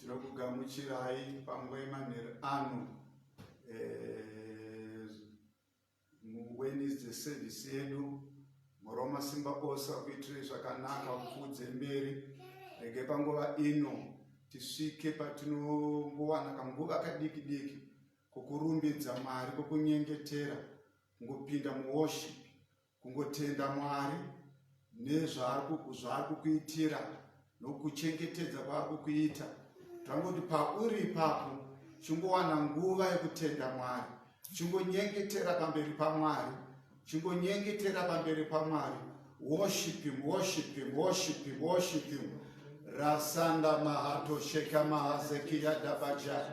tinokugamuchirai panguva yemanheru ano eh, muwednesday service yedu muroma simba ose akuitirei zvakanaka kupfuudze mberi rege panguva ino tisvike patinongowana kanguva kadiki diki kokurumbidza mwari kokunyengetera ngopinda muworship Kungotenda Mwari nezvaari kuku- zvaari kukuitira nokuchengetedza kwaari kukuita tangoti pauri ipapo chingowana nguva yekutenda mwari chingonyengetera pamberi pamwari chingonyengetera pamberi pamwari worship him worship him worship him worship him rasanda mahato sheka mahazekiyadabaja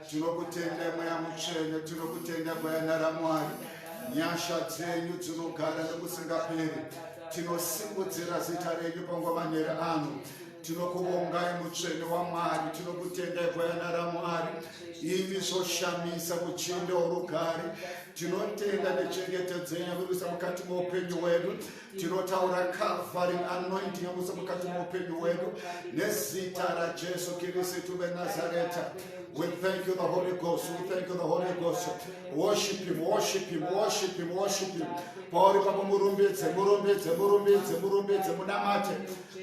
Tinokutenda mweya mutsvene, tinokutenda gwayana raMwari. Nyasha dzenyu dzinogara nekusingaperi. Tinosimudzira zita renyu pangovaneri ano. Tinokuvongai mutsvene waMwari, tinokutendai gwayana raMwari. Imi zvoshamisa muchinda worugare. Tinotenda nechengetedzo yenyu yakurisa mukati meupenyu hwedu. tinotaura kavari anointi yamuse mukati moupenyu wedu nezita rajesu kirisitu venazareta We thank you, the Holy Ghost. We thank you, the Holy Ghost. Worship Him, worship Him, worship Him, worship Him. Pauri papa murumbidze, murumbidze, murumbidze, murumbidze, munamate,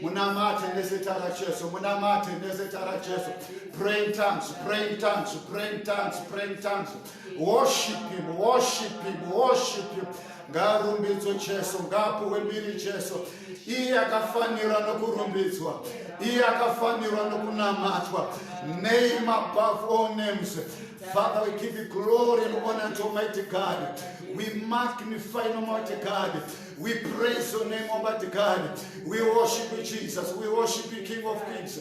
munamate nezita raJesu, munamate nezita raJesu. Pray in tongues, pray in tongues, pray in tongues, pray in tongues. Worship him, worship him, worship him. Ngarumbidzo Jesu, ngapuwe mbiri Jesu. Iye akafanira nokurumbidzwa. Iye akafanirwa nokunamatwa. Name above all names. Father, we give you glory and honor to Almighty God. We magnify Almighty God. We praise your name, Almighty God. We worship you, Jesus. We worship you, King of Kings.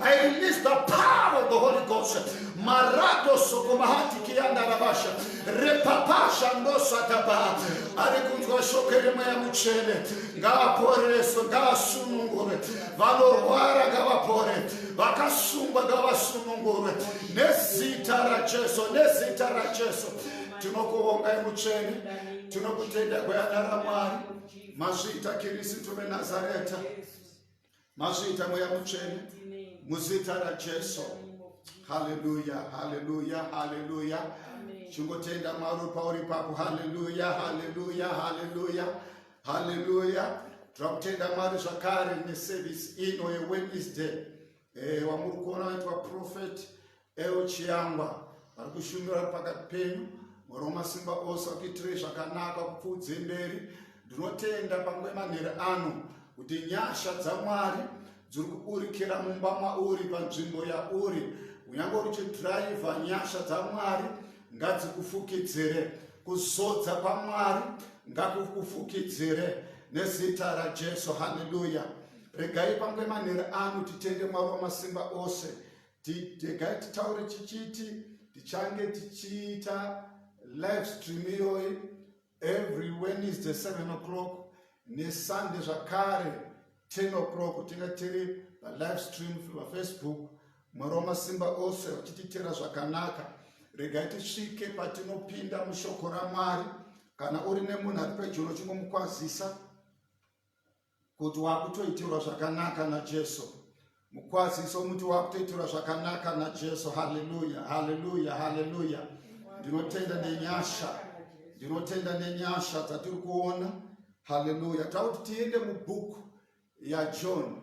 I release the power of the Holy Ghost. Marato sokomahati kianda rabasha. Repapasha ndosa taba. Ari kunjwa shokere maya muchene. Nga pore so nga sunungure. Valo rwara ga vapore. Vaka sumba ga vasunungure. Nezita ra Jesu. Nezita ra Jesu. Tunokuhonga ya muchene. Tunokutenda kwa ya naramari. Mazita kirisi tume Nazareta. Yes. Mazita mweya mutsvene muzita raJesu. Haleluya, haleluya, haleluya. Chingotenda Mwari pauri papo. Haleluya, haleluya, haleluya, haleluya. Tira kutenda Mwari zvakare neservice ino yeWednesday. Eh, wamuri kuona waitwa prophet Ewo Chiyangwa vari kushumira pakati penyu mwari wamasimba ose akuitirei zvakanaka kupfuudze mberi ndinotenda pamwe manhere ano kuti nyasha dzamwari dziri kuburikira mumba mauri panzvimbo yauri kunyange uri chidhiraivha nyasha dzamwari ngadzikufukidzire kuzodza kwamwari ngakukufukidzire nezita rajesu haleluya regai pamwe manhere ano titende mwari wamasimba ose Tidegai titaure chichiti tichange tichiita live stream iyoyi every wednesday 7 o'clock nesunday zvakare 10 o'clock tinga tiri palive stream pafacebook mwari wamasimba ose vachititera zvakanaka regai tisvike patinopinda mushoko ramwari kana uri nemunhu ari pedyo unochimbomukwazisa kuti wakutoitirwa zvakanaka najesu mukwaziso umuti wakutoitirwa zvakanaka najesu haleluya haleluya haleluya ndinotenda nenyasha ndinotenda nenyasha dzatiri kuona haleluya tauti tiende mubhuku yajohn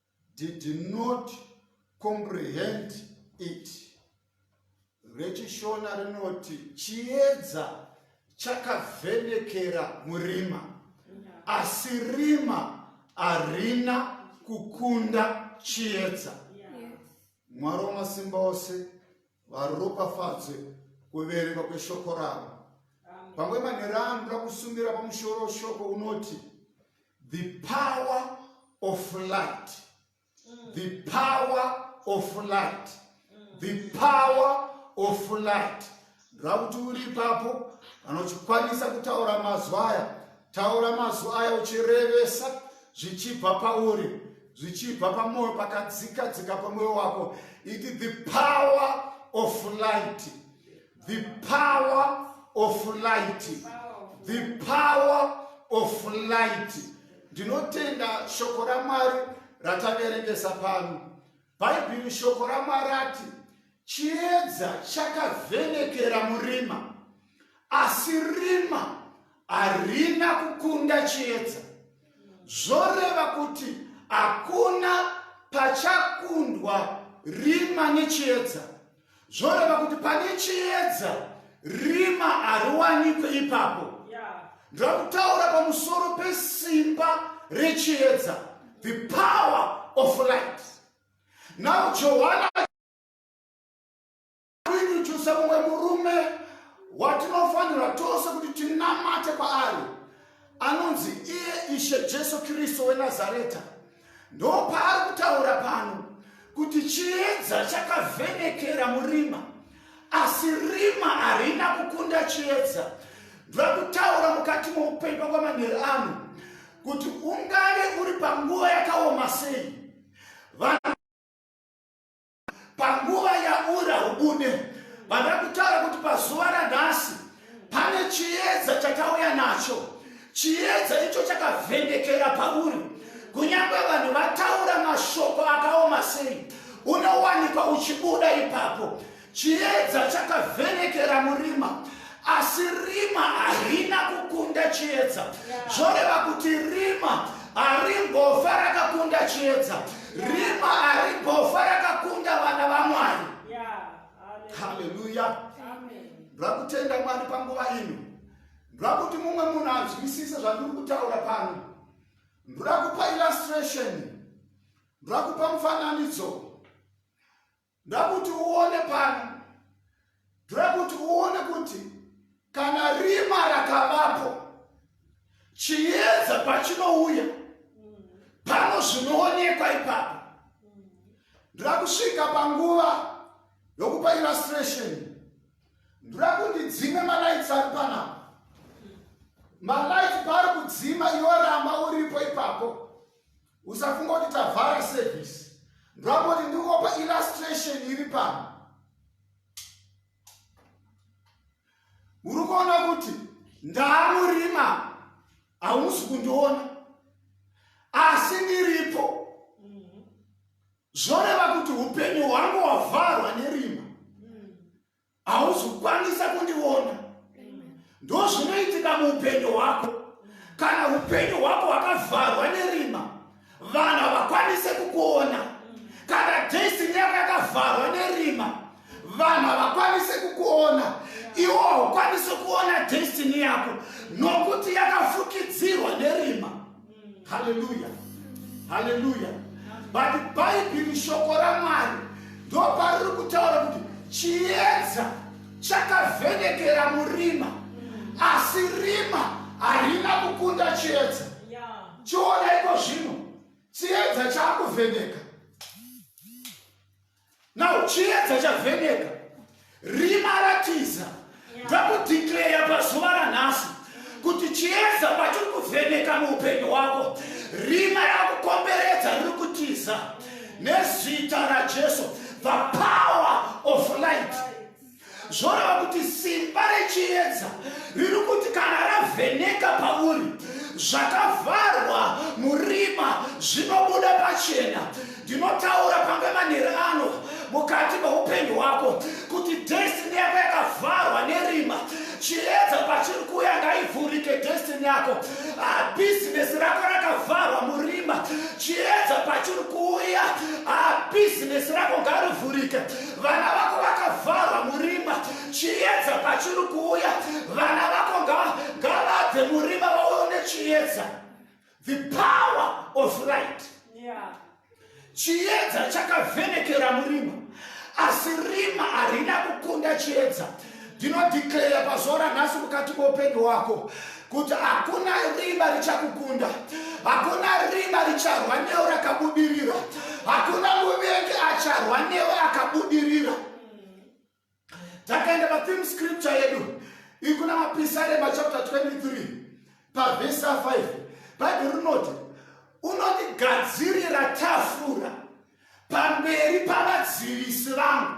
did not comprehend it rechishona rinoti chiedza chakavhenekera murima asi rima harina kukunda chiedza mwari wamasimba ose varopafadzwe kuverenga kweshoko ravo pamwe manhero ano ndoda kusumira pamusoro weshoko unoti the power of light mm. the power of light mm. the power of light ndoda kuti uri ipapo anochikwanisa kutaura mazwi aya Taura mazwi aya uchirevesa zvichibva pauri, zvichibva pamwoyo pakadzika dzika pamwoyo wako. Iti the power of light, the power of light, the power of light. Ndinotenda shoko raMwari rataverengesa pano. Bhaibheri shoko raMwari ati chiedza chakavhenekera murima, asi rima harina kukunda chiedza. Zvoreva kuti hakuna pachakundwa rima nechiedza. zvoreva kuti pane chiedza rima hariwanikwe ipapo ndakutaura pamusoro pesimba rechiedza the power of light now johana kuinujusa mumwe murume watinofanirwa tose kuti tinamate kwaari anonzi iye ishe jesu kristu wenazareta ndopaari kutaura pano kuti chiedza chakavhenekera murima asi rima harina kukunda chiedza ndakutaura mukati moupenyu pakwamanheri ano kuti ungave uri panguva yakaoma sei panguva yaura hubune vanoda kutaura kuti pazuva ranhasi pane chiedza chatauya nacho chiedza icho chakavhendekera pauri kunyange vanhu vataura mashoko akaoma sei unowanikwa uchibuda ipapo chiedza chakavhenekera murima asi rima harina kukunda chiedza zvoreva kuti rima harimbofa rakakunda chiedza rima harimbofa rakakunda vana vamwari haleluya ndakutenda mwari panguva ino ndakuti mumwe munhu anzwisise zvandiri kutaura pano ndakupa illustration ndakupa mufananidzo Ndakuti uone pano, ndoda kuti uone kuti kana rima rakavapo chiedza pachinouya pano zvinoonekwa ipapo. Ndoda kusvika panguva yokupa illustration, ndoda kuti dzime malaitsi ari panapa. Malaitsi paari kudzima iwe ramba uripo ipapo. usafunga kuti tavhara service ndwamboti ndikuopa illustration iri pano uri kuona kuti ndaamurima hausi kundiona asi ndiripo zvoreva kuti upenyu hwangu hwavharwa nerima hauzokwanisa kundiona ndozvinoitika muupenyu hwako kana upenyu hwako hwakavharwa nerima vanhu havakwanise kukuona kana destiny yako yakavharwa nerima vanhu havakwanise kukuona iwo haukwanise kuona destiny yako nokuti yakafukidzirwa nerima haleluya haleluya but bhaibheri shoko ramwari ndopariri kutaura kuti chiedza chakavhenekera murima asi rima harina kukunda chiedza chiona iko zvino chiedza chaakuvheneka now chiedza chavheneka rima ratiza ndakudhikleya pazuva ranhasi kuti chiedza pachiri kuvheneka muupenyu hwako rima rakukomberedza riri kutiza nezita rajesu the power of light zvoreva kuti simba rechiedza riri kuti kana ravheneka pauri zvakavharwa murima zvinobuda pachena ndinotaura pange manheri ano mukati meupenyu hwako kuti destiny yako yakavharwa nerima chiedza pachiri kuya ngaivhurike destiny yako ah, bhizinesi rako rakavharwa murima chiedza pachiri kuuya ah, bhizinesi rako ngarivhurike Vana vako vakavharwa murima, chiedza pachiri kuuya. Vana vako ngavabve murima vaone chiedza. The power of light. Yeah. Chiedza chakavhenekera murima, asi rima harina kukunda chiedza. ndinodeclare pazuva ranhasi mukati moupenyu hwako kuti hakuna riba richakukunda hakuna riba richarwa newe rakabudirira hakuna muvengi acharwa newe akabudirira takaenda patheme scripture yedu ikuna mapisarema chapter 23 pavhesa 5 bhaibheri rinoti unondigadzirira tafura pamberi pavadzivisi vangu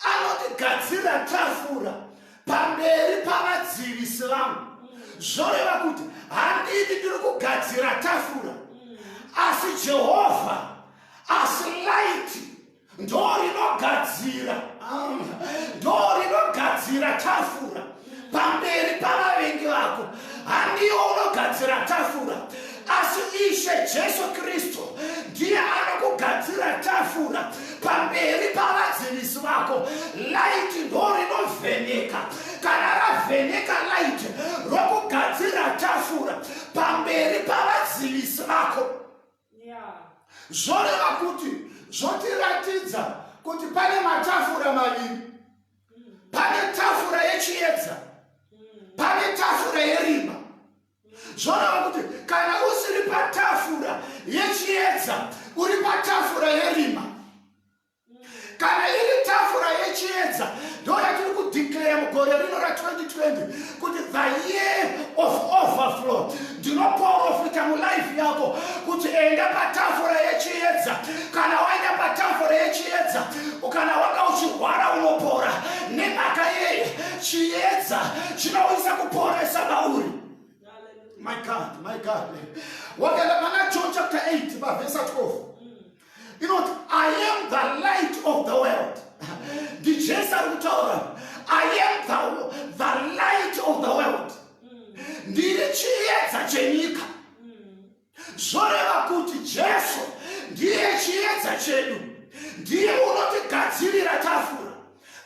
anondigadzirira tafura pamberi pavadzivisi vangu zvoreva kuti handidi ndiri kugadzira tafura asi jehovha asi laiti ndo rinogadzira ndo rinogadzira tafura pamberi pavavengi vako handiwo unogadzira tafura asi ishe jesu kristu ndiye anokugadzira tafura pamberi pavadzivisi vako laiti ndo rinovheneka kana ravheneka laiti rokugadzira tafura pamberi pavadzivisi vako zvoreva kuti zvotiratidza kuti pane matafura maviri pane tafura yechiedza pane tafura yerima zvoreva kuti kana usiri patafura yechiedza uri patafura yerima kana iri tafura yechiedza ndoyatiri kudeclare mugore rino ra 2020 kuti the year of overflow ndinoprofita mulife yako kuti enda patafura yechiedza kana waenda patafura yechiedza kana wanga uchirwara unopora nemhaka yeye chiedza chinouyisa kuporesa mauri my god my god wakaenda pana john chapter 8 pavhesa 12 inoti i am the light of the world ndijesu ari kutaura i am the, the light of the world ndiri chiedza chenyika zvoreva kuti jesu ndiye chiedza chedu ndiye unotigadzirira tafura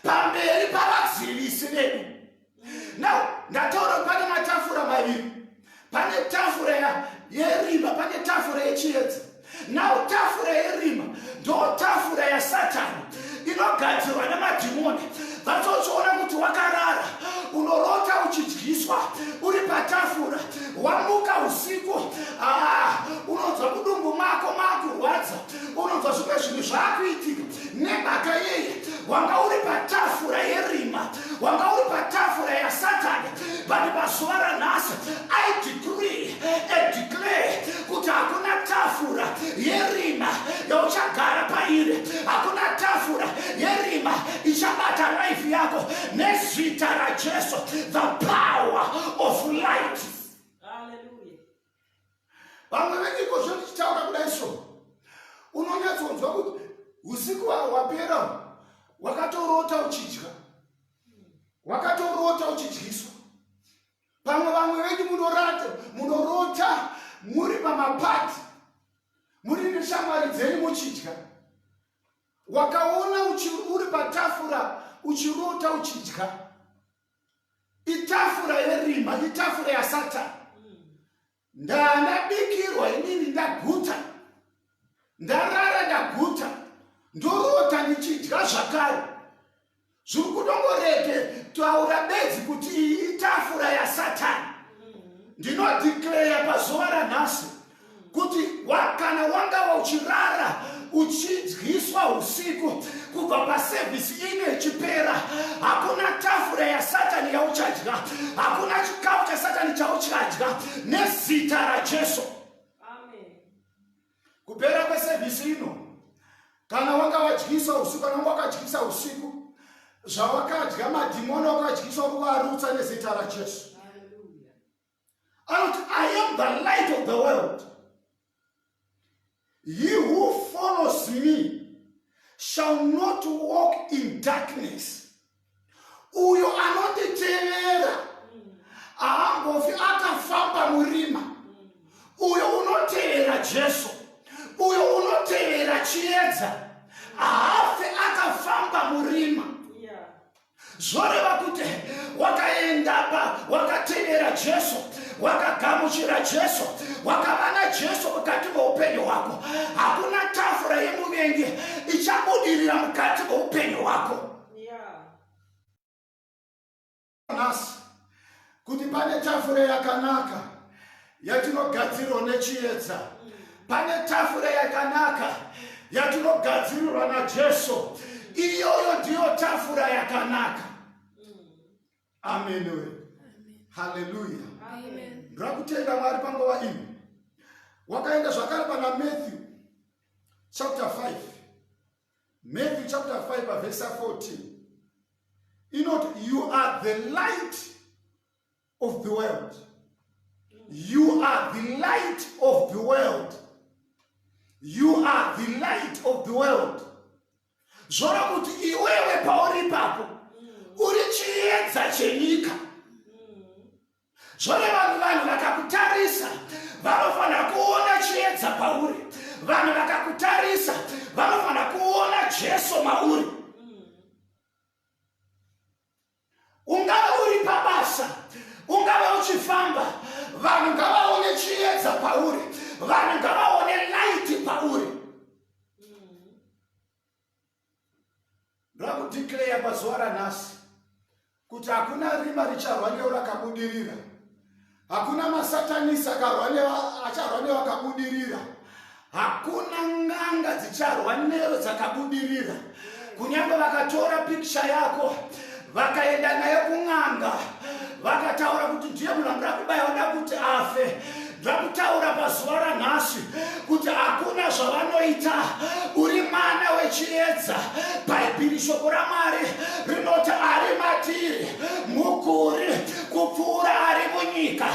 pamberi pavadzivisi vedu now ndataura kuti pane matafura maviri pane tafura yerima pane tafura yechiedza now tafura yerima ndo tafura yasatani inogadzirwa nemadhimoni vatsochiona kuti wakarara unorota uchidyiswa uri patafura wamuka usiku ah, unonzwa kudumbu mako makurwadza unonzwa zvimwe zvinhu zvaakuitika nemhaka yeye wanga uri patafura yerima wanga uri patafura yasatani but pazuva ranhasi i decree and declare kuti hakuna tafura yerima yauchagara pairi hakuna tafura yerima ichabata life yako nezita rajesu the power of light vamwe venyiko zvetichitaura kudai so unonyatsonzwa kuti usiku wapera wakatorota uchidya wakatorota uchidyiswa pamwe vamwe venyu munorata munorota muri pamapati muri neshamwari dzenyu muchidya wakaona uri patafura uchirota uchidya itafura yerima itafura yasatani ndanabikirwa inini ndaguta ndarara ndaguta ndorota ndichidya zvakare zviri kudongorege taura bedzi kuti iyi itafura yasatani ndinodikleya pazuva ranhasi kuti kana wangava uchirara uchidyiswa usiku kubva pasevhisi ino ichipera hakuna tafura yasatani yauchadya hakuna chikafu chasatani chauchadya nezita rajesu kupera kwesevhisi ino kana wanga wadyisa usiku kana wanga wakadyisa usiku zvawakadya madhimoni wakadyisa uri kuarutsa nezita rajesu anoti i am the light of the world he who follows me shall not walk in darkness uyo anonditevera haambofi akafamba murima uyo unotevera jesu uyo unotevera chiedza haafe akafamba murima zvoreva kuti wakaendapa wakatevera jesu wakagamuchira jesu wakava najesu mukati meupenyu hwako hakuna tafura yemuvengi ichabudirira mukati meupenyu hwako nhasi kuti pane tafura yakanaka yatinogadzirwa nechiedza pane tafura yakanaka yatinogadzirirwa najesu iyoyo ndiyo tafura yakanaka amenoe haleluya ndakutenda mwari panguva ino wakaenda zvakare pana matthew chapter 5 Matthew chapter 5 verse 14 inoti you are the light of the world you are the light of the world you are the light of the world zvora kuti iwewe pauri ipapo uri chiedza chenyika zvoreva kuti vanhu vakakutarisa vanofanira kuona chiedza pauri vanhu vakakutarisa vanofanira kuona jesu mauri ungave uri pabasa ungave uchifamba vanhu ngavaone chiedza pauri vanhu ngavaone laiti pauri ndakudeclare pazuva ranhasi kuti hakuna rima richarwa neurakabudirira hakuna masatanisi akarwa neacharwa newakabudirira hakuna nganga dzicharwa nero dzakabudirira kunyange vakatora pikicha yako vakaenda naye kun'anga vakataura kuti ndiye munhu anoda kubaya oda kuti afe zvakutaura pazuva ranhasi kuti hakuna zvavanoita uri mwana wechiedza bhaibhiri shoko ramwari rinoti ari matiri mukuri kupfuura ari munyika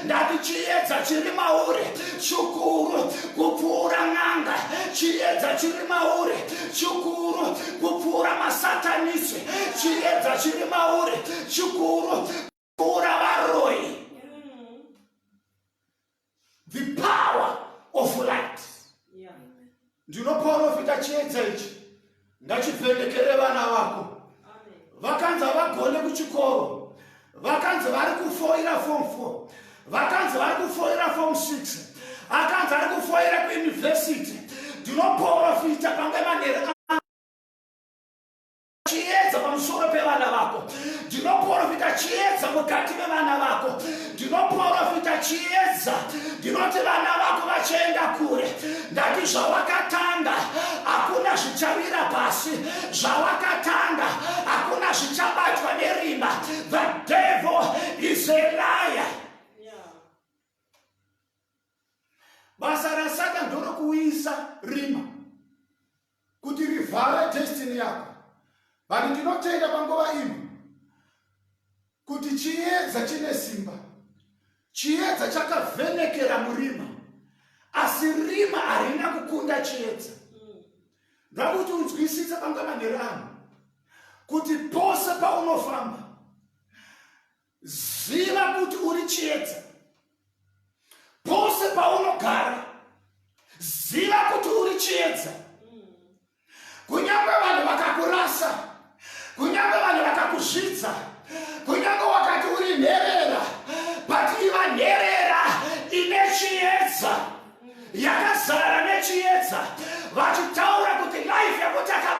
ndati chiedza chiri mauri chikuru kupfuura n'anga chiedza chiri mauri chikuru kupfuura masatanisi chiedza chiri mauri chikuru kuura varoi the power of light ndinoporofita chiedza ichi ngachivhenekere vana vako vakanzi havagone kuchikoro vakanzi vari kufoira fom four vakanzi vari kufoira fom six akanzi ari kufoira kuyunivhesiti ndinoporofita pange manera chiedza pamusoro pevana vako ndinoprofita chiedza mukati mevana vako ndinoprofita chiedza ndinoti vana vako vachienda kure ndati zvawakatanga hakuna zvichavira pasi zvawakatanga hakuna zvichabatwa nerima the devil is a liar basa rasatan ndorokuuyisa rima kuti rivhare destiny yako vanhu ndinotenda panguva ino kuti chiedza chine simba chiedza chakavhenekera murima asi rima harina kukunda chiedza ndakuti unzwisise panga manhero ano kuti pose paunofamba Ziva kuti uri chiedza pose paunogara. Ziva kuti uri chiedza kunyange vanhu vakakurasa, kunyange vanhu vakakuzvidza, kunyange wakati uri nherera, but iva nherera ine chiedza yakazara nechiedza vachitaura kuti life yekutaka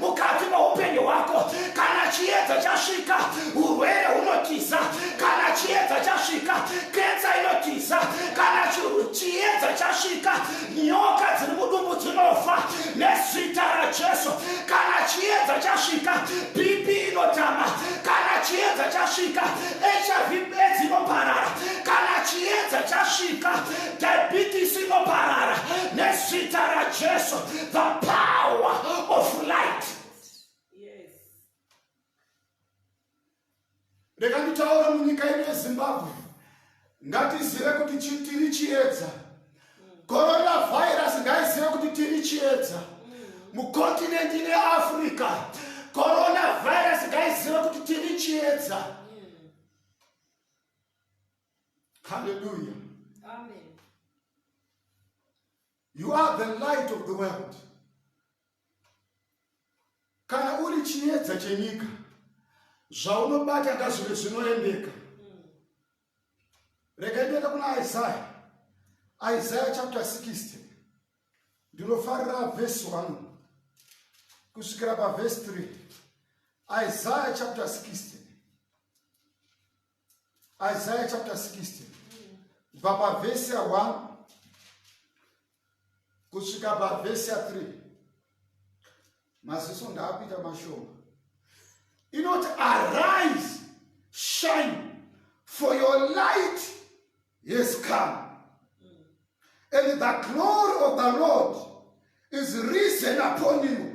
mukati meupenyu hwako kana chiedza chasvika urwere hunotiza kana chiedza chasvika kensa inotiza kana chiedza chasvika nyoka dziri mudumbu dzinofa nezita rajesu kana chiedza chasvika bp inotama kana chiedza chasvika hiv bedzi inoparara kana chiedza chasvika Diabetes inoparara nezita raJesu, the power of light. Yes. Rega nditaura munyika yedu yeZimbabwe, ngatizive kuti tiri chiedza. Coronavirus ngaizive kuti tiri chiedza mukontinenti neafrica coronavirus ngaizive kuti tiri chiedza mm. Hallelujah. Amen. You are the light of the world. Kana uri chiedza chenyika, zvaunobata ngazvive zvinoendeka. Hmm. Rega ndiende kuna Isaiah. Isaiah chapter 60. Ndinofarira verse 1 kusvikira paverse 3. Isaiah chapter 60. Isaiah chapter 60 kubva pavhesi ya 1 kusvika pavhesi ya 3 maziso ndaapita mashoma inoti arise shine for your light has come and the glory of the lord is risen upon you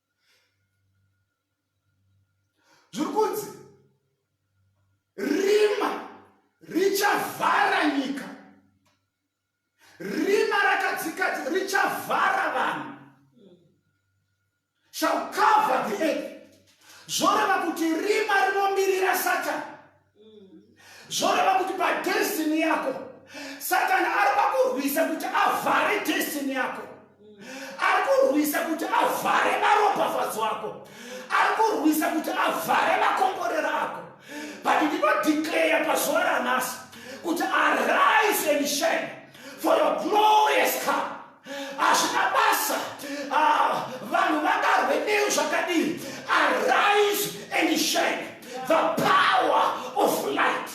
zviri kunzi rima richavhara nyika rima rakadzika richavhara vanhu shall cover the earth zvoreva kuti rima rinomirira satani zvoreva kuti padestiny yako satani ari pakurwisa kuti avhare destiny yako ari kurwisa kuti avhare maropafadzo ako ari kurwisa kuti avhare makomborero ako but ndinodeclare pazuva ranhasi kuti arise and shine for your glorious come hazvina basa ah, vanhu vangarwe neyo zvakadii arise and shine the power of light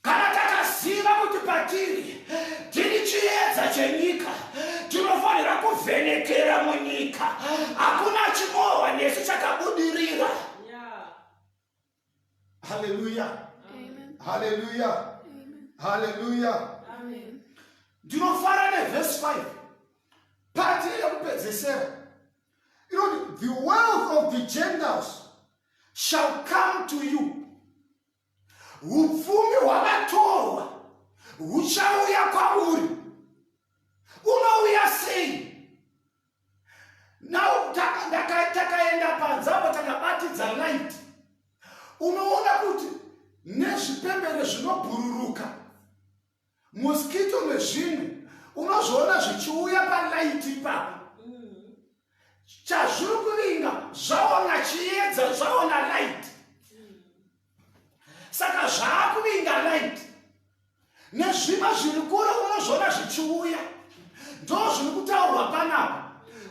kana takaziva kuti patiri tiri chiedza chenyika tinofanira kuvhenekera munyika hakuna chimohwa nesu chakabudirira haleluya haleluya haleluya ndinofara nevhesi 5 pati yekupedzesera inoti the wealth of the gentiles shall come to you upfumi hwakatorwa huchauya kwauri unouya sei Now takaenda padzavo takabatidza light, unoona kuti nezvipembere zvinobhururuka mosquito nezvinhu unozviona zvichiuya palight ipapo chazviri kuvinga zvaona chiedza zvaona light saka zvaakuvinga light nezvimwe zviri kure unozviona zvichiuya ndo zviri kutaurwa panapa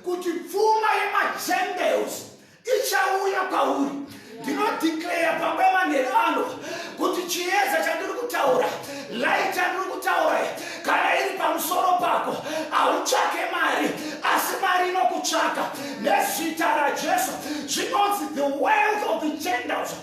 kuti pfuma yemagentles ichauya kwauri ndinodeclare pamba yemanheru ano kuti chiedza chandiri kutaura light yandiri kutaura kana iri pamusoro pako hautsvake mari asi mari inokutsvaka nezita rajesu zvinonzi the wealth of the gentles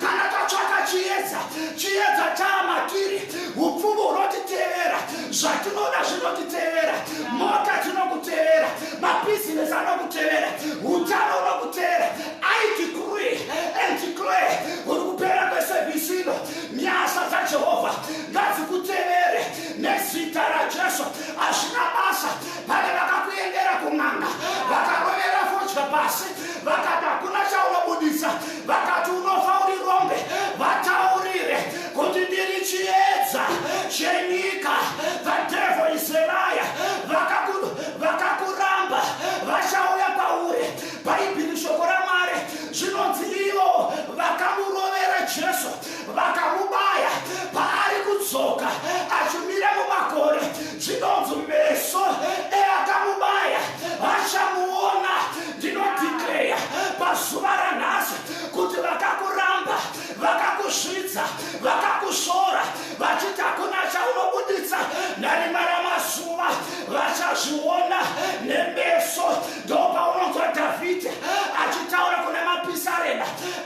kana tatsvaka chiedza chiedza chaamatiri upfumi hunotitevera zvatinoda zvinotitevera mota dzinokutevera mabhizinesi anokutevera utano unokutevera aitikuri antikle uri kupera kwesevhisi ino nyasa dzajehovha ngadzikutevere nezita rajesu hazvina basa pane vakakuendera kun'anga vakarovera fodya pasi vakati hakuna chaunobudisa vakati unofa uri rombe vataurire kuti ndiri chiedza chenyika the devil is a liar Vakaku- vakakuramba vachauya kwauri bhaibheri shoko ramwari zvinonzi ivo vakamurovera jesu vakamubaya paari kudzoka achimira mumakore zvinonzi meso eakamubaya vachamuona ndinodikleya pazuva ranhasi kuti vakakuramba vakakusvidza vakakusvora vachiti hakuna chaunobuditsa narimara mazuva vachazviona nemeso ndopaunonzwa dhavhidhi achitaura kuna mapisarema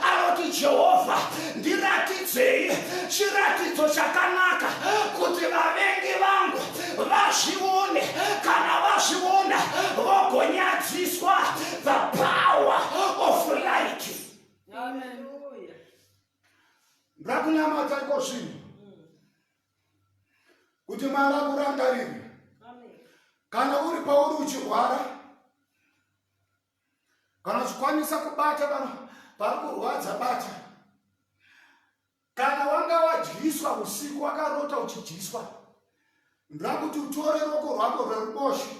anoti jehovha ndiratidzei chiratidzo chakanaka kuti vavengi vangu vazvione kana vazviona vogonyadziswa the power of light ndakunamata iko zvinhu kuti mwari akurangariri kana uri pauri uchirwara kana uchikwanisa kubata vanhu pari kurwadza bata kana wanga wadyiswa usiku wakarota uchidyiswa ndoda kuti utore roko rwako rweruboshe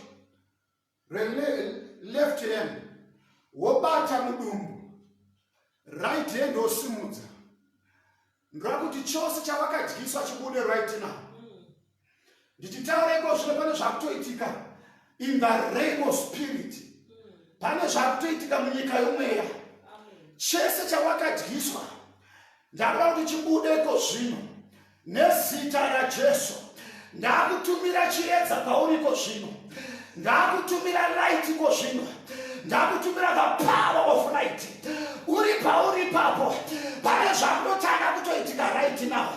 releft hand wobata mudumbu right hand wosimudza ndora kuti chose chavakadyiswa chibude right now ndichitaureko zvino pane zvakutoitika in the realm of spirit pane zvakutoitika munyika yomweya chese chawakadyiswa ndakuda kuti chibudeko zvino Nezita raJesu ndakutumira chiedza pauri ko zvino, ndakutumira light ko zvino, ndakutumira the power of light. Uri pauri ipapo, pane zvakunotanga kutoitika right now,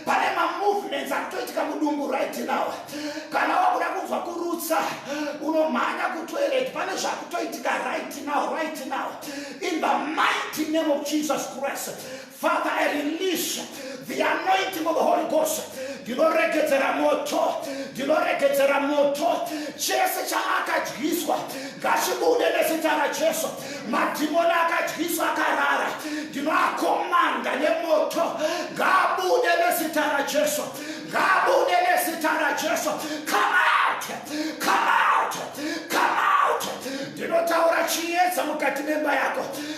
pane mamovements akutoitika mudumbu right now. Kana wakuda kunzwa kurutsa, unomhanya kutoilet, pane zvakutoitika right now, right now, in the mighty name of Jesus Christ. Father, I release the anointing of the Holy Ghost. Ndinoregedzera moto, ndinoregedzera moto. Chese chaakadyiswa ngachibude nezita raJesu. Madhimoni akadyiswa akarara, ndinoakomanda nemoto. Ngaabude nezita raJesu, ngaabude nezita raJesu. Come out, come out, come out. Ndinotaura chiedza mukati memba yako.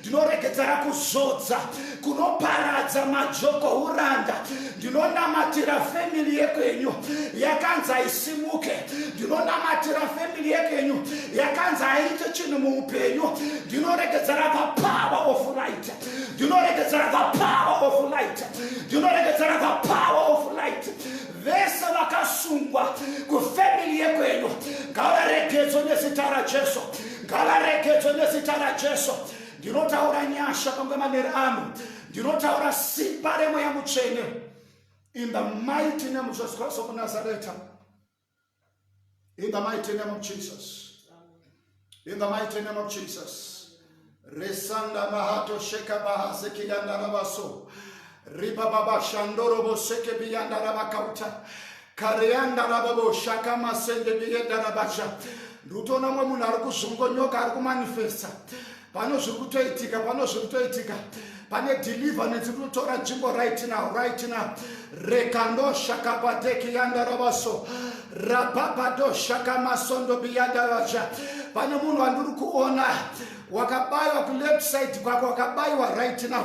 ndinoregedzera kuzodza kunoparadza majoko uranda ndinonamatira family yekwenyu yakanzi haisimuke ndinonamatira family yekwenyu yakanzi haiite chinhu muupenyu ndinoregedzera the power of light ndinoregedzera the power of light ndinoregedzera the power of light vese vakasungwa kufamily yekwenyu ngavaregedzwe nezita rajesu ngavaregedzwe nezita rajesu ndinotaura nyasha pamwe maneri ano ndinotaura simba remweya mutsvene in the mighty name of jesus christ of nazareth in the mighty name of jesus in the mighty name of jesus resanda mahato sheka bahazekiyandarabaso ripa baba shandorobo sekebiyandarabakauta kareyandarababo shakamasendebiyendarabasha ndikutoona mwe munhu ari kuzvongonyoka ari kumanifesta pano zviri kutoitika pano zviri kutoitika pane deliverance kunotora nzvimbo right now right now rekandoshakapateki yandarabaso rapapadoshakamasondo biyandaraja pane munhu wandiri kuona wakabayiwa kuleft side kwako wakabayiwa right now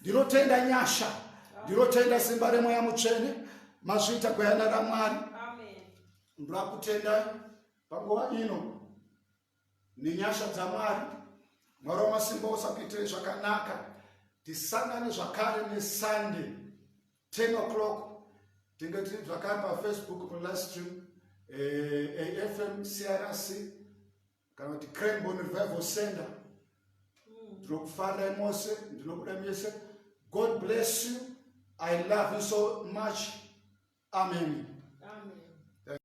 ndinotenda nyasha ndinotenda simba remweya mutsvene mazviita gwayana ramwari ndoda kutendai panguva ino nenyasha dzamwari mwari wamasimba usakuitirei zvakanaka tisangane zvakare nesunday 10 o'clock tinge tiri zvakare pafacebook palive stream eh, afm crc kana kuti cranbon revival center hmm. ndinokufandirai mose ndinokuda mese god bless you i love you so much amen